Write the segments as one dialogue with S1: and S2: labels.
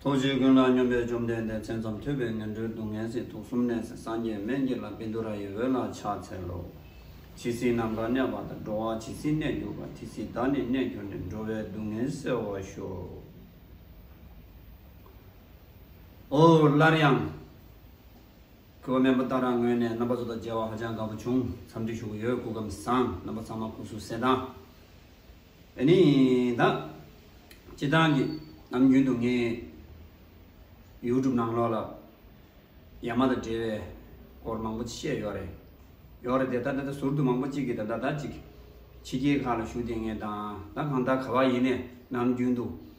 S1: ཐུགས་རྗེ་ཀུན་ལ་སྙོམས་པའི་བཅོམ་ལྡན་འདས་མཚན་ཙམ་ཐོས་པས་ངན་འགྲོའི་སྡུག་བསྔལ་སྲིད་དུག་གསུམ་ནད་སེལ་སངས་རྒྱས་སྨན་གྱི་ལམ་བིནྡུ་ར་ཡི་འོད་ལ་ཕྱག་འཚལ་ལོ། ཇི་སྲིད་ནམ་མཁའ་གནས་པ་དང་འགྲོ་བ་ཇི་སྲིད་གནས་གྱུར་པ་དེ་སྲིད་བདག་ནི་གནས་གྱུར་ནས་འགྲོ་བའི་སྡུག་བསྔལ་སེལ་བར་ཤོག། ཧཱུྃ། སླར་ཡང། ཁུ་བ་མེན་པོ་ལྟར་རང་ངོས་ནས་རྣམ་པ་ཚོ་དང་མཇལ་བ་ཧ་ཅང་དགའ་པོ་བྱུང་འཚམས་འདྲི་ཞུ་གི་ཡོད་སྐུ་ཁམས་བཟང་རྣམ་པ་ཚང་མ་སྐུ་གཟུགས་གསལ་དང། བས་ནི་དག། ཅེས་དང་གི། ནམ་རྒྱུན་དུ་ངས། YouTube ནང་ལོགས་ལ། ཡ་མ་དང་འབྲེལ་བའི། སྐོར་མང་པོ་བཤད་ཡོད་རེད། ཡོད་རེད་དེ་ད་ད་ད་ཟུར་དུ་མང་པོ་གཅིག་གི་ད་ད་ད་ཅིག། ཕྱི་རྒྱལ་ཁག་ལ་བཞུགས་དེ་ངས་དང་ད་གང་ད་ག་བ་ཡིན་ནས་ནམ་རྒྱུན་དུ།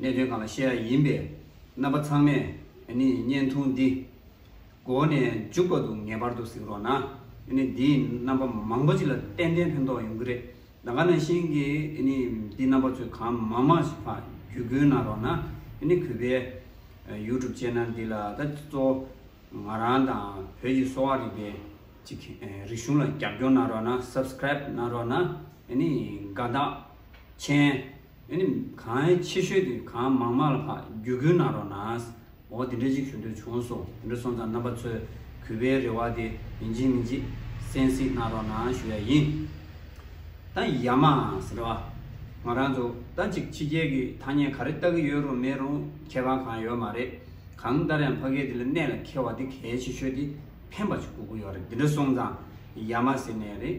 S1: གནད་དོན་གང་ལ་བཤད་ཡ་ཡིན་པས་རྣམ་པ་ཚང་མས་ནི་བརྙན་ཐུང་འདི། མགོ་ནས་མཇུག་བར་དུ་ངེས་པར་དུ་གཟིགས་རོགས་གནང། ནི་འདིས་རྣམ་པ་མང་པོ་ཅིག་ལ་ཏན་ཏན་ཕན་ཐོགས་ཡོང་གི་རེད། ད་ག་ནང་བཞིན་གྱི་ནི་འདི་རྣམ་པ་ཚོས་གང་མང་མང་ཞིག་ཕ་རྒྱུད་སྐུལ་གནང་རོགས་གནང། ནི་གུས་པའི། YouTube Channel འདི་ལ་ད་གཙོ་ང་རང་དང་བོད་ཀྱི་གསོ་བ་རིག་པའི་ཅིག་རིག་གཞུང་ལ་རྒྱབ་སྐྱོར་གནང་རོགས་གནང Subscribe གནང་རོགས་གནང། ནི་དགའ་དག་མཆན། ཨེ་ནི། གང་ཨེ་ཆེ་ཤོས་དེ་གང་མང་མང་ལ་ཕ་རྒྱུད་ཀུན་ན་རོ་ནའས། འོ་དེ་འདྲ་ཅིག་ཞུ་འདོད་བྱུང་སོང་དེ་འདྲ་སོང་ཙང་རྣམ་པ་ཚོས་གུས་པའི་རེ་བ་དེ་མི་འཇིག་མི་འཇིག་གསན་སྲིད་གནང་རོགས་གནང་ཞུ་ཡ་ཡིན། ད་ཡ་མ་ཟེར་བ། ང་རང་ཚོ་ད་ཅིག་ཕྱི་རྒྱལ་གྱི་ཐ་སྙད་ག་རེ་བལྟ་གི་ཡོད་རུང་མེད་རུང་ཁྱད་པར་གང་ཡོད་མ་རེད། གང་ལྟར་ཡང་ཕ་སྐད་དེ་ལ་གནད་ལ་འཁེལ་བ་དེ་གལ་ཆེ་ཤོས་དེ་ཕན་པ་ཅིག་དགོས་ཀྱི་ཡོད་རེད་དེ་འདྲ་སོང་ཙང་ཡ་མ་ཟེར་ནས་རེད།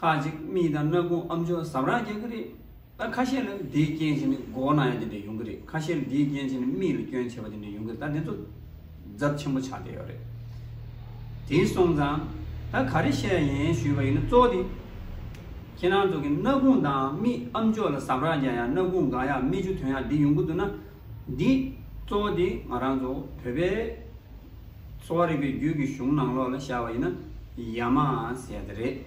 S1: ཁ་ཅིག་རྨིས་དང་སྣ་ཁུང་ཨམ་ཆོས་ཟབ་རགས་རྒྱག་གི་རེད། ད་ཁ་ཤས་ལ་དེའི་རྐྱེན་བྱས་ནས་མགོ་བོ་ན་ཡ་དེ་འདྲ་ཡོང་གི་རེད་ཁ་ཤས་ལ་དེའི་རྐྱེན་བྱས་ནས་རྨིས་ལ་སྐྱོན་ཆེ་བ་དེ་འདྲ་ཡོང་གི་རེད་ད་དེ་ཚོ་རྫབ་ཆེན་པོ་ཆགས་བསྡད་ཡོད་རེད། དེ་སོང་ཙང་ད་ག་རེ་བཤད་ཡིན་ཞུས་པ་ཡིན་ན་གཙོ་བོ་དེ། ཁྱེད་རང་ཚོ་གིས་སྣ་ཁུང་དང་རྨིས་ཨམ་ཆོས་ལ་ཟབ་རགས་རྒྱག་ཡག་སྣ་ཁུང་འགག་ཡག་རྨིས་ཆུ་དོན་ཡག་འདི་ཡོང་གི་འདུག་ན། འདི་གཙོ་བོ་དེ་ང་རང་ཚོ་བོད་པའི་གསོ་བ་རིག་པའི་རྒྱུད་ཀྱི་གཞུང་ནང་ལོགས་ལ་ཤར་བ་ཡིན་ན་ཡ་མ་ཟེར་ཡ་ད་རེད།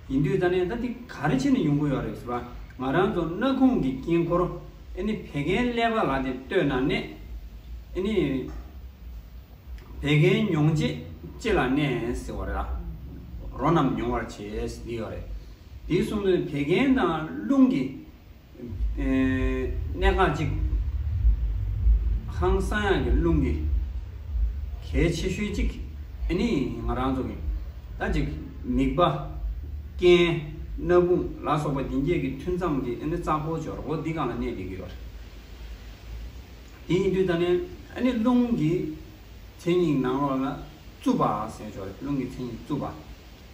S1: ཡིན་དུས་ད་ནས་ད་འདི་ག་རེ་བྱས་ནས་ཡོང་གི་ཡོད་རེད་ཟེར་བ་ང་རང་ཚོ་སྣ་ཁུང་གི་དཀྱིལ་འཁོར་ཨེ་ནི་བད་ཀན་ཀླད་པ་ལ་དེ་ལྟོས་ན་ནད་ཨེ་ནི་བད་ཀན་མྱོང་བྱེད་ལྕེ་ལ་ནད་ཟེར་བ་རེད། རོ་རྣམས་མྱོང་བར་བྱེད་ཟེར་གྱི་ཡོད་རེད། དེའི་གསུང་དོན་བད་ཀན་དང་རླུང་གི། གནས་ཁང་གཅིག། ཧང་བསང་དབྱངས་ཀྱི་རླུང་གིས། གལ་ཆེ་ཤོས་གཅིག། ཨེ་ནི་ང་རང་ཚོ་གིས། ད་ཅིག་མིག་པ། རྐན། སྣ་བུག་ལ་སོགས་པ་འདི་བརྒྱད་ཀྱི་ཐུན་མཚམས་ཀྱི་ཨེ་ནི་རྩ་འཁོར་སྦྱོར་སྒོ་འདི་གང་ལ་གནས་འདི་གི་བར། དེ་ཡིན་དུས་ད་ནི་ཨེ་ནི་རླུང་གི། མཚན་ཉིད་ནང་ལོགས་ལ། རྩུབ་པ། ཟེར་ཆོག་རླུང་གི་མཚན་ཉིད་རྩུབ་པ།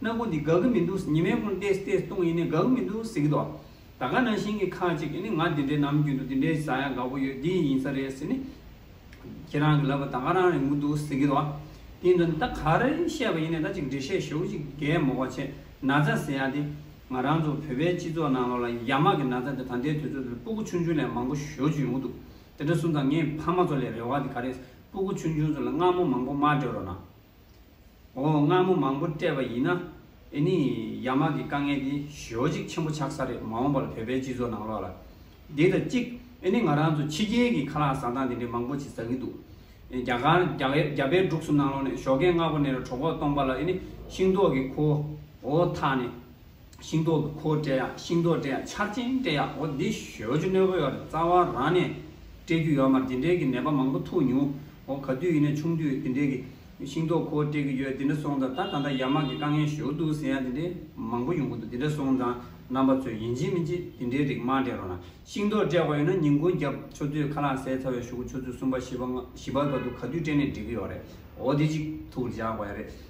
S1: སྣམ་བུ་འདི་དགའ་གི་མི་འདུག་ཉི་མའི་ཁུང་བལྟས་བལྟས་བཏུང་ཡིན་ནའི་དགའ་གི་མི་འདུག་ཟེར་གི་འདུག་ད་ག་ནང་བཞིན་གྱི་ཁ་ཅིག་གིས་ནི་ང་འདི་འདྲའི་ནམ་རྒྱུན་དུ་འདི་འདྲའི་བཟའ་ཡག་དགའ་པོ་ཡོད་འདི་ཡིན་ས་རེད་ཟེར་ནས། ཁྱེད་རང་གི་ལབ་པ་ད་ག་རང་རེད་མི་འདུག་ཟེར་གི་འདུག་དེའི་དོན་ད་ག་རེ་བཤད་པ་ཡིན་ནའི་ད་ཅིག་འགྲེལ་བཤད་ཞུ་ཅིག་རྒད་མོ་བ་ཆེ་ན་ཚ་ཟེར་ཡག་དེ། ང་རང་ཚོ་བོད་པའི་སྤྱི་ཚོགས་ནང་ལོགས་ལ་ཡ་མ་གི་ན་ཚ་དེ་ད་ལྟའི་དུས་ཚོད་འདིར་སྤུ་གུ་ཆུང་ཆུང་ལས་མང་པོ་ཞོ་ཅིག་ཡོང་གི་འདུག་དེ་འདྲ་གསུངས་ཙང་ངས་ཕ་མ་ཚོ་ལས་རེ་བ་དེ་ག་རེད་སྤུ་གུ་ཆུང་ཆུང་ཚོ་ལ་མངར་མོ་མང་པོ་མ་སྤྲོད་རོགས་གནང། འོ་མངར་མོ་མང་པོ་སྤྲད་པ་ཡིན་ན་ཨེ་ནི་ཡ་མ་གི་དཀའ་ངལ་དེ་ཞོ་གཅིག་ཆེན་པོ་ཆགས་ས་རེད་མ་འོངས་པར་བོད་པའི་སྤྱི་ཚོགས་ནང་ལོག་ལ། འདི་དང་གཅིག་ཨེ་ནི་ང་རང་ཚོ་ཕྱི་རྒྱལ་གི་ཁ་ལག་ཟ་སྟངས་དེ་འདྲའི་མང་པོ་ཆེ་ཟ་གི་འདུག་རྒྱ་གར་རྒྱ་བལ་འབྲུག་སུ་ནང་ལོག་ནས་ཞོ་ཁལ་མངར་པོ་ནས་ར་གྲོ་གོག་སྟོང་པ་ལ་ཨེ་ནི་ཤིང་ཏོག་གི་ཁོའོ་ཐག་ནས་ཤིང་ཏོག་གི་ཁོག་སྤྲད་ཡ་ཤིང་ཏོག་སྤྲད་ཡ་ཆར་ཆེན་སྤྲད་ཡ་འོ་འདི་ཞོལ་རྒྱུ་གནོད་པོ་ཡོད་རེད་རྩ་བ་རང་ནས་སྤྲད་རྒྱུ་ཡོད་མ་འདི་འདྲའི་གི་ནད་པ་མང་པོ་ཐུག་མྱོང་འོ་ག་དུས་ཡིན་ན་ཆུང་དུས་འདི་འདྲའི་གི་ཤིང་ཏོག་ཁོག་སྤྲད་གི་ཡོད་འདི་འདྲ་སོང་ཙང་ད་ད་ལྟ་ཡར་མར་གི་དཀའ་ངལ་ཞོག་འདུག་ཟེར་ཡ་འདི་འདྲའི་མང་པོ་ཡོང་གི་འདུག་འདི་འདྲ་སོང་ཙང་རྣམ་པ་ཚོས་ཡིན་གཅིག་མིན་གཅིག་འདི་འདྲའི་རིགས་མང་སྤྲད་རོགས་གནང་ཤིང་ཏོག་སྤྲད་པ་ཡོད་ན་ཉིན་གུང་རྒྱབ་ཆོ་ཚོད་ཁ་ལག་ཟས་ཚ་བའི་ཞོག་གུ་ཆོ་ཚོད་གསུམ་པ་བཞི་པ་ལྔ་བཞི་པ་ག་དུས་ག་དུས་སྤྲད་ནས་འགྲིག་གི་ཡོད་རེད་འོ་འདི་གཅིག་ཐུག་རྒྱག་པ་ཡ་རེད།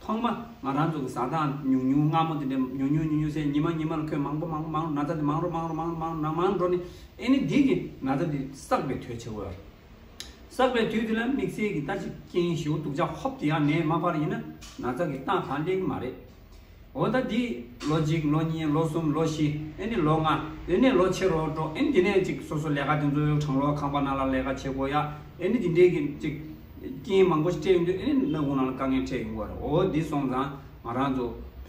S1: ཐོག་མ་ང་རང་ཚོ་གི་བཟའ་ཟླ་ཉུང་ཉུང་སྔ་མོ་དེ་འདྲས་ཉུང་ཉུང་ཉུང་ཉུང་སའི་ཉི་མ་ཉི་མ་ལ་ཁོས་མང་པོ་མང་པོ་མང་རུ་ན་ཚ་དེ་མང་རུ་མང་རུ་མང་རུ་མང་རུ་ན་མང་འགྲོ་ནས་ཨེ་ནི་དེ་གི་ན་ཚ་དེ་བསགས་པའི་དུས་ཆེ་བོ་ཡོད། བསགས་པའི་དུས་དེ་ལ་དམིགས་བསལ་གི་ལྟ་ཅི་རྐྱེན་ཞིག་འོ་དུག་ཅག་ཧོབ་ཏུ་ཡང་ནས་མ་འཕར་ཡིན་ན་ན་ཚ་གི་སྟངས་གང་བསྟན་གི་མ་རེད། འོ་ད་དེ་ལོ་གཅིག་ལོ་གཉིས་ལོ་གསུམ་ལོ་བཞི་ཨེ་ནི་ལོ་ལྔ་དེ་ནས་ལོ་ཕྱེད་རོ་འགྲོ་ཨེ་ནི་དེ་ནས་ཅིག་སོ་སོ་ལས་ཀ་དེ་ཚོ་གྲང་ལོ་ཁང་པ་ན་ལ་ལས་ཀ་བྱེད་དགོས་ཡ་ཨེ་ནི་དེ་འདྲས་གི་ཅིག། རྐྱེན་མང་པོ་ཞིག་སྤྲད་ཡོང་དུས་ཨེ་ནས་ནང་ཁུངས་ནང་ལ་དཀའ་ངལ་འཕྲད་ཡོང་གི་བ་རེད་འོ་འདི་སོང་ཙང་ང་རང་ཚོ་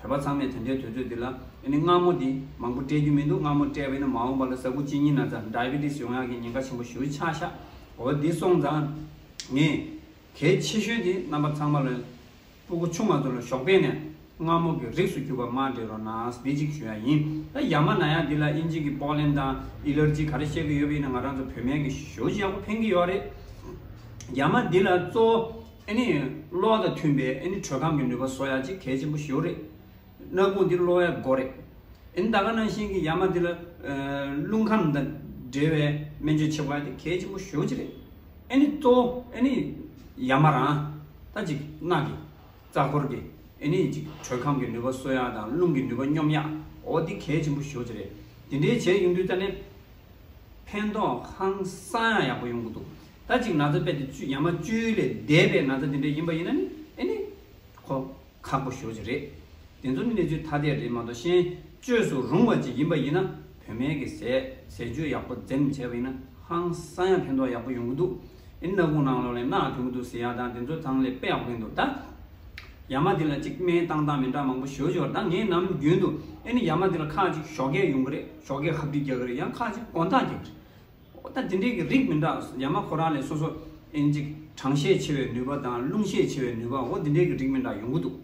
S1: བོད་པ་ཚང་མས་དེ་འདྲའི་དུས་ཚོད་འདི་ལ་ཨེ་ནས་སྔ་མོ་དེ་མང་པོ་སྤྲད་རྒྱུ་མི་འདུག་སྔ་མོ་སྤྲད་པ་ཨེ་ནས་མ་འོངས་པ་ལ་ས་ཁུག་གཅིག་གཉིས་ན་ཙང Diabetes ཡོང་ཡག་གི་ཉེན་ཁ་ཆེན་པོ་ཞུ་ཆགས་ཤག་འོ་འདི་སོང་ཙང་ངས་གལ་ཆེ་ཤོས་དེ་རྣམ་པ་ཚང་མ་ལ། སྤུ་གུ་ཆུང་མ་དུ་ལ་ཞོགས་པས་ནས་རྔ་མོ་གི་རིགས་སུ་གྱུར་པ་མ་འདྲེ་རོ་ནགས་འདི་གཅིག་ཞུ་ཡ་ཡིན་ད་ཡ་མ་ན་ཡ་འདི་ལ་ཨིན་ཇི་གི་པོག་ལེན་དང་ཨི་ལར་ཇི་ག་རེ་བཤད་གི་ཡོད་པ་ཡིན་ན་ང་རང་ཚོ་བོད་སྨན་གི་ཞོ་ཞིག་ཡག་པོ་ཕན་གི་ཡོད་རེད་ཡ་མ་འདི་ལ་གཙོ་བོ་ཨི་ནི་གློག་དང་མཐུན་པའི་ཨི་ནི་དྲོད་ཁམས་ཀྱི་ནུས་པ་བཟོ་ཡག་ཅིག་གལ་ཆེན་པོ་ཞོ་རེད། ནག་པོ་འདི་གློ་བའི་མགོ་རེད། ཨིན་ད་ག་ནང་བཞིན་གྱི་ཡ་མ་འདི་ལ། རླུང་ཁམས་དང་འབྲེལ་བའི་སྨན་བཅོས་བྱེད་པ་འདི་གལ་ཆེན་པོ་ཞོ་གཅིག་རེད། ཨེ་ནི་གཙོ་བོ་ཨེ་ནི། ཡ་མ་རང། ད་ཅིག་རྣག་གི། རྩ་འཁོར་གྱི། ཨེ་ནི་ཅིག་དྲོད་ཁམས་ཀྱི་ནུས་པ་གསོ་ཡག་དང་རླུང་གི་ནུས་པ་སྙོམས་ཡག་འོ་འདི་གལ་ཆེན་པོ་ཞོ་གཅིག་རེད། འདི་འདྲའི་བྱས་ཡོང་དུས་ད་ནི། ཕན་ཐོག་ཧང་སང་ཡང་ཡག་པོ་ཡོང་གི་འདུག་ད་ཅིག་ན་ཚ་དཔེ་དེ་བཅུ་ཡ་མ་བཅུའི་ལས་འདས་པའི་ན་ཚ་འདི་འདྲ་ཡིན་པ་ཡིན་ན་ནི་ཨེ་ནི། ཁོ། ཁག་པོ་ཞོག་ཅིག་རེད། དེ་ཚོ་གནས་ཚུལ་ཐ་དད་རེད་མ་གཏོགས་ཤེས་བཅོས་སུ་རུང་བ་ཅིག་ཡིན་པ་ཡིན་ན་བོད་སྨན་གྱི་ཟས་ཟས་སྤྱོད་ཡག་པོ་འཛེམ་བྱས་པ་ཡིན་ན་ཧང་སང་ཡང་ཕན་ཐོག་ཡག་པོ་ཡོང་གི་འདུག་ཨེ་སྣ་ཁུང་ནང་ལོག་ལས་སྣ་ཐོན་གི་འདུག་ཟེར་ཡག་དང་དེ་ཚོ་ཚང་ལས་པས་དབེན་འདུག་ད། ཡ་མ་འདི་ལ་ཅིག་སྨན་བཏང་སྟངས་མི་འདྲ་མང་པོ་ཞོ་ཞོར་ད་ངས་ནམ་རྒྱུན་དུ་ཨེ་ནི་ཡ་མ་འདི་ལ་ཁག་ཅིག་ཞོ་སྐད་ཡོང་གི་རེད་ཞོ་སྐད་ཧབ་སྒྲིག་རྒྱག་གི་རེད་ཡང་ཁག་ཅིག་གོང་ཐག་རྒྱག་གི་རེད། ཨོ་ད་དེ་འདྲའི་གི་རིགས་མི་འདྲ་ཡ་མ་ཁོ་རང་ལས་སོ་སོ་ཨེན་ཅིག་གྲང་ཤས་ཆེ་བའི་ནུས་པ་དང་རླུང་ཤས་ཆེ་བའི་ནུས་པ་ཨོ་དེ་འདྲའི་གི་རིགས་མི་འདྲ་ཡོང་གི་འདུག་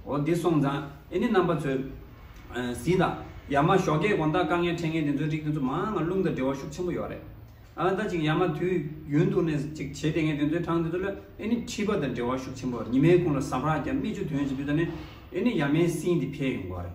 S1: ཨོ་དེ་སོང་ཙང་ཨེ་ནི་རྣམ་པ་ཚོས་གཟི་དང་ཡ་མ་ཞོགས་སྐད་གོང་ལྟ་དཀའ་ངའི་འཕྲད་ངན་དེ་ཚོའི་རིགས་དེ་ཚོ་མང་ང་རླུང་དང་འབྲེལ་བ་ཤུགས་ཆེན་པོ་ཡོད་རེད་ཨ་ད་ཅིག་ཡ་མ་དུས་ཡུན་དུ་ནས་ཅིག་བྱེད་དེ་ངས་དེ་ཚོའི་གྲངས་དེ་ཚོ་ལ་ཨེ་ནི་འཁྲིད་པ་དང་འབྲེལ་བ་ཤུགས་ཆེན་པོ་ཉི་མའི་ཁུང་ལ་ཟ་བར་རྒྱ་སྨི་བཅུ་དོན་བཞིན་དུ་ད་ནས་ཨེ་ནི་ཡ་མའི་སྲིན་དེ་འཕེལ་ཡོང་གི་བ་རེད།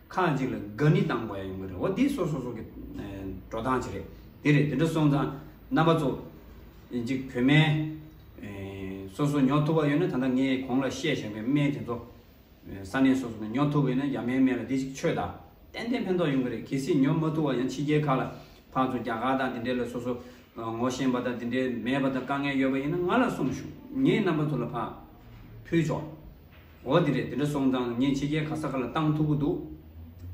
S1: ཁག་ཅིག་ལ་དགའ་ནི་བཏང་བ་ཡང་ཡོང་གི་རེད་འོ་དེ་སོ་སོ་སོ་གི་འགྲོ་སྟངས་ཅིག་རེད་དེ་རེད་དེ་འདྲ་སོང་ཙང་རྣམ་པ་ཚོ་གཅིག་བོད་སྨན་སོ་སོ་ཉོ་ཐུབ་པ་ཡོད་ན་ད་ལྟ་ངས་གོང་ལ་བཤད་བཞིན་པའི་སྨན་དེ་ཚོ་ས་གནས་སོ་སོ་ནས་ཉོ་ཐུབ་པ་ཡོད་ན་ཡ་མའི་སྨན་ལ་དེ་གཅིག་ཆོས་དང་ཏན་ཏན་ཕན་ཐོག་ཡོང་གི་རེད་གལ་སྲིད་ཉོ་མ་ཐུབ་བ་ཡང་ཕྱི་རྒྱལ་ཁག་ལ་ཕར་ཚུར་རྒྱ་གར་དང་དེ་འདྲའི་ལ་སོ་སོ་ངོ་ཤེས་པ་དང་དེ་འདྲའི་མེད་པ་དང་དཀའ་ངལ་ཡོད་པ་ཡིན་ན་ང་ལ་གསུངས་ཞུ་ངས་རྣམ་པ་ཚོ་ལ་ཕ་ཕུལ་ཆོག། འོ་དེ་རེད་དེ་འདྲ་སོང་ཙང་ངས་ཕྱི་རྒྱལ་ག་ས་ག་ལ་བཏང་ཐུབ་གི་འདུག་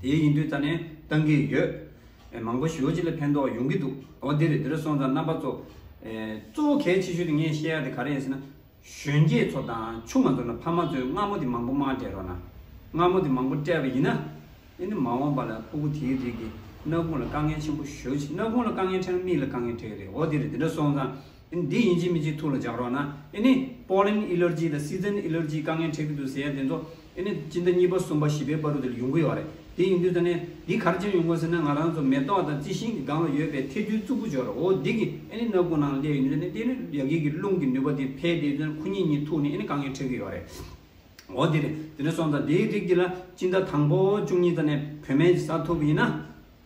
S1: དེའི་ཡིན་དུས་ད་ནས་བཏང་གི་ཡོད། མང་པོ་ཞོའུ་ཅི་ལ་ཕན་ཐོག་ཡོང་གི་འདུག་འོ་དེ་རེད་དེ་འདྲ་སོང་ཙང་རྣམ་པ་ཚོ། གཙོ་བོ་གལ་ཆེ་ཤོས་དེ་ངས་བཤད་ཡག་དེ་ག་རེད་ཡིན་ཟེར་ན། གཞོན་སྐྱེས་ཚོ་དང་ཆུང་མ་ཚོ་ལ་ཕ་མ་ཚོས་སྔ་མོ་དེ་མང་པོ་མ་སྤྲད་རོགས་གནང། སྔ་མོ་དེ་མང་པོ་སྤྲད་པ་ཡིན་ན། ཨེ་ནི་མ་འོངས་པ་ལ་ཕུ་གུ་དེའི་རིགས་ཀྱི་ནག་ཁུང་ལ་དཀའ་ངལ་ཆེན་པོ་ཞོའུ་ཅི་ནག་ཁུང་ལ་དཀའ་ངལ་འཕྲད་ན་མིག་ལ་དཀའ་ངལ་འཕྲད་གི་རེད་འོ་དེ་རེད་དེ་འདྲ་སོང་ཙང་འདི་ཡིན་གཅིག་མིན་གཅིག་ཐུགས་ལ་འཇགས་རོགས་གནང། ཨེ་ནས། Pollen Allergy དང Season Allergy དཀའ་ངལ་འཕྲད་ཀྱི་འདུག་ཟེར་ཡ་དེ་ཚོ། ཨེ་ནས། སྤྱི་ཟླ་གཉིས་པ་གསུམ་པ་བཞི་པའི་པར་རུ་དེ་ལ་ཡོང་གི་ཡོད་བ་རེད། དེ་ཡིན་དུས་ད་ནས། འདི་གར་ཅན་ཡོང་དགོས་ཟེར་ན་ང་རང་ཚོ་མེ་ཏོག་དང་རྩི་ཤིང་གི་སྒང་ལ་ཡོད་པའི་ཐལ་རྡུལ་གཙུག་པོ་འཇོག་རོགས་འོ་འདི་གི། ཨེ་ནས་སྣ་དགུ་ནང་ལ་སླེ་ཡོད་ནུས་ད་ནས་ཏེ། ཡ་གི་གི་རླུང་གི་ནུས་པ་དེ་འཕེལ་ཏེ་ཁུ་ཉིས་གཉིས་ཐུག་ནས་ཨེ་ནས་དཀའ་ངལ་འཕྲད་ཀྱི་ཡོད་བ་རེད། འོ་དེ་རེད། དེ་ནས་སོང་ཙང་དེའི་རིགས་འདི་ལ་སྤྱི་ཟླ་དང་པོ་བཅུ་གཉིས་ཙ་ནས་བོད་སྨན་གྱི་ས་ཐོབ་ཡིན་ན།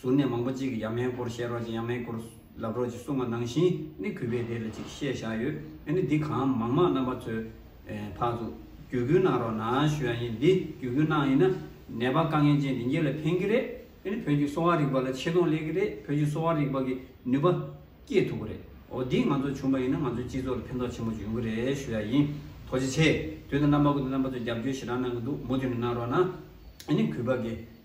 S1: ཟུར་ནས་མང་པོ་གཅིག་གིས་ཡབ་མེས་སྐོར་བཤད་རོགས་ཅིག་ཡབ་མེས་སྐོར་ལབ་རོགས་ཅིག་གསུངས་བ་ནང་བཞིན་ནི་གུས་པས་དེ་ལ་ཅིག་བཤད་བཞག་ཡོད་ཨེ་ནི་འདི་གང་མང་མང་རྣམ་པ་ཚོས་ཕར་ཚུར་བརྒྱུད་སྐུལ་གནང་རོགས་གནང་ཞུ་ཡ་ཡིན་འདི་བརྒྱུད་སྐུལ་གནང་ཡིན་ན་ནད་པ་དཀའ་ངལ་ཅན་དེ་འགྱེལ་ལ་ཕན་གི་རེད་ཨེ་ནི་བོད་ཀྱི་གསོ་བ་རིག་པ་ལ་ཆེ་མཐོང་སླེབས་གི་རེད་བོད་ཀྱི་གསོ་བ་རིག་པ་གི་ནུས་པ་སྐྱེད་ཐུབ་གི་རེད་འོ་འདི་ང་ཚོ་བྱུང་བ་ཡིན་ན་ང་ཚོའི་སྤྱི་ཚོགས་ལ་ཕན་ཐོག་ཆེན་པོ་འབྱུང་གི་རེད་ཞུ་ཡ་ཡིན་ཐོག་ཅི་ཆེ་དུས་དང་རྣམ་པ་ཀུན་ཏུ་རྣམ་པ་ཚོས་རྒྱབ་སྐྱོར་ཞེ་དྲག་གནང་གི་འདུག་མུ་མཐུད་ནས་གནང་རོགས་གནང་ཨེ་ནི་གུས་པ་དགེ།